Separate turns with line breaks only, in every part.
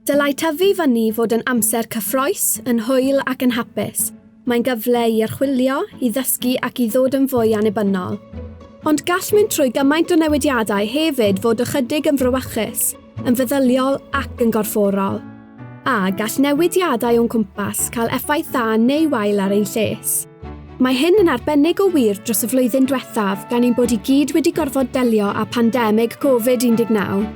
Dylai tyfu fyny fod yn amser cyffrous, yn hwyl ac yn hapus. Mae'n gyfle i archwilio, i ddysgu ac i ddod yn fwy annibynnol. Ond gall mynd trwy gymaint o newidiadau hefyd fod ychydig yn frawychus, yn feddyliol ac yn gorfforol. A gall newidiadau o'n cwmpas cael effaith dda neu wael ar ein lles. Mae hyn yn arbennig o wir dros y flwyddyn diwethaf gan ein bod i gyd wedi gorfod delio â phandemig Covid 19.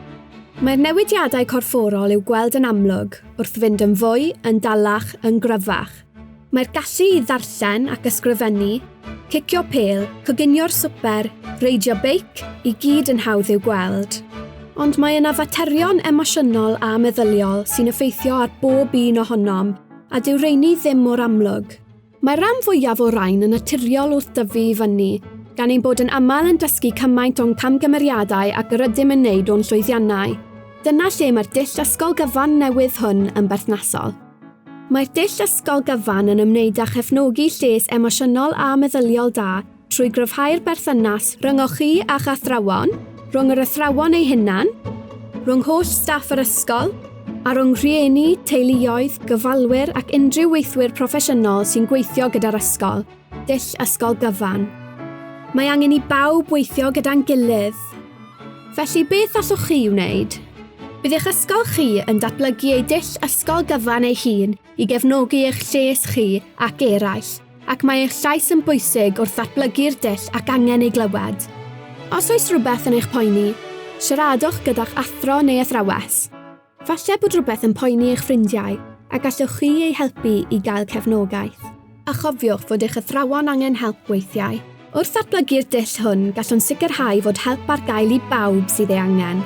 Mae'r newidiadau corfforol i'w gweld yn amlwg wrth fynd yn fwy, yn dalach, yn gryfach. Mae'r gallu i ddarllen ac ysgrifennu, cicio pêl, coginio'r swper, reidio beic, i gyd yn hawdd i'w gweld. Ond mae yna faterion emosiynol a meddyliol sy'n effeithio ar bob un ohonom a dyw rheiny ddim mor amlwg. Mae'r rhan fwyaf o rain yn naturiol wrth dyfu i fyny, gan ein bod yn aml yn dysgu cymaint o'n camgymeriadau ag yr ydym yn wneud o'n llwyddiannau. Dyna lle mae'r dull ysgol gyfan newydd hwn yn berthnasol. Mae'r dull ysgol gyfan yn ymwneud â chefnogi lles emosiynol a meddyliol da, trwy gryfhau'r berthynas rhyngoch chi a'ch athrawon, rhwng yr athrawon eu hunain, rhwng holl staff yr ysgol, a rhwng rhieni, teuluoedd, gofalwyr ac unrhyw weithwyr proffesiynol sy'n gweithio gyda'r ysgol, dull ysgol gyfan. Mae angen i bawb weithio gyda'n gilydd. Felly, beth allwch chi wneud? Bydd eich ysgol chi yn datblygu ei dull ysgol gyfan ei hun i gefnogi eich lles chi ac eraill, ac mae eich llais yn bwysig wrth ddatblygu'r dull ac angen ei glywed. Os oes rhywbeth yn eich poeni, siaradwch gyda'ch athro neu athrawes. Falle bod rhywbeth yn poeni eich ffrindiau a gallwch chi eu helpu i gael cefnogaeth. A chofiwch fod eich athrawon angen help weithiau. Wrth ddatblygu'r dull hwn, gallwn sicrhau fod help ar gael i bawb sydd ei angen.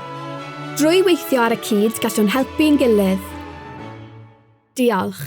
Drwy weithio ar y cyd, gallwn helpu'n gilydd. Diolch.